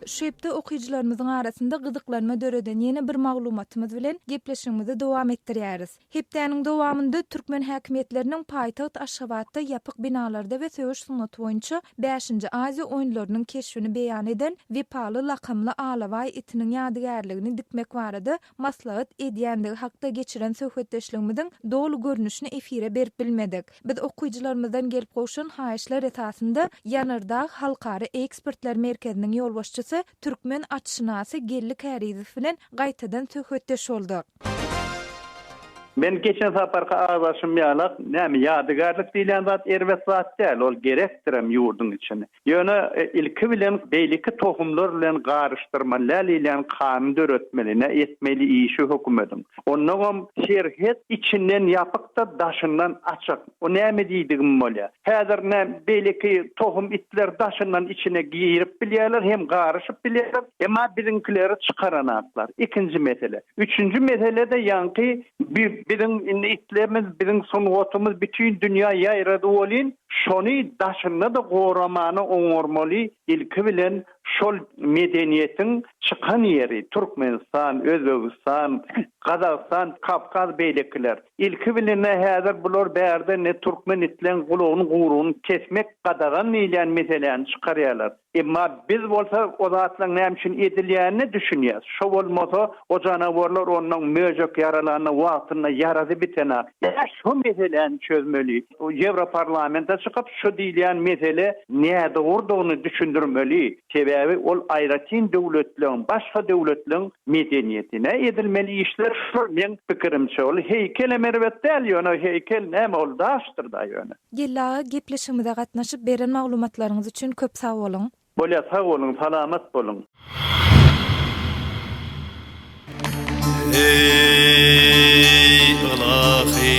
Şu hepde okyjylarymyzyň arasynda gyzyklanma döreden ýene bir maglumatymyz bilen gepleşigimizi dowam etdirýäris. Hepdäniň dowamynda türkmen häkimiýetleriniň paýtagt Aşgabatda ýapyk binalarda we söweş sungaty boýunça bäşinji Aziýa oýunlarynyň keşbini beýan eden Wepaly lakamly alabaý itiniň ýadygärligini dikmek barada maslahat edýändigi hakda geçiren söhbetdeşligimiziň doly görnüşini efire berip bilmedik. Biz okyjylarymyzdan gelip gowşan haýyşlar esasynda Ýanardag halkara ekspertler merkeziniň ýolbaşçysy, türkmen atşynasy Geldi Kärizow bilen gaýtadan söhbetdeş bolduk. Men geçen saparky agzaşym ýalak, näme ýadygärlik diýilýän zat erbet zat däl, ol gerekdirem ýurduň içini. Ýöne ilki bilen beýleki tohumlar bilen garyşdyrman läl ilýän kany döretmeli, nä etmeli işi hökümediň. Onnoňam serhet içinden ýapykda daşyndan açyk. O näme diýdigim bolýa. Häzir nä beýleki tohum itler daşyndan içine girip bilýärler hem garyşyp bilýärler. Emma biziňkileri çykaranaklar. Ikinji mesele. Üçünji meselede ýaňky bi biziň indi itlerimiz biziň sungatymyz bütin dünýä ýaýrady welin Şony daşynda-da goramany oňarmaly, ilki bilen şol medeniýetiň çykan ýeri, Türkmenistan, Özbegistan, Gazagystan, Kawkaz beýlekiler. Ilki bilen-ä häzir bular bärde ne türkmen itleň gulagyny gurugny kesmek gadagan diýilýän meseläni çykarýarlar. Emma biz bolsa o zatlaryň näme üçin edilýänine düşünýäs. Şo bolmasa, o janawarlar ondan möjek ýaralanda wagtynda ýarasy bitenok. Ýa şo meseläni çözmeli. Ýewroparlamenta çykyp, şo diýilýän mesele nädogrudygyny düşündirmeli. Sebäbi ol aýratyn döwletleň, başga döwletleň medeniýetine edilmeli işler şol meň pikirimçe. Ol heýkel hem erbet däl ýöne heýkel näme ol daşdyr-da ýöne. Geldi aga gepleşigimize gatnaşyp beren maglumatlaryňyz üçin köp sag boluň. Bolýar sag boluň salamat boluň. Eý ylahy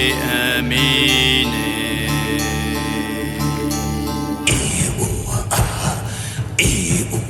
ämin ey. Eý uww aah eý uww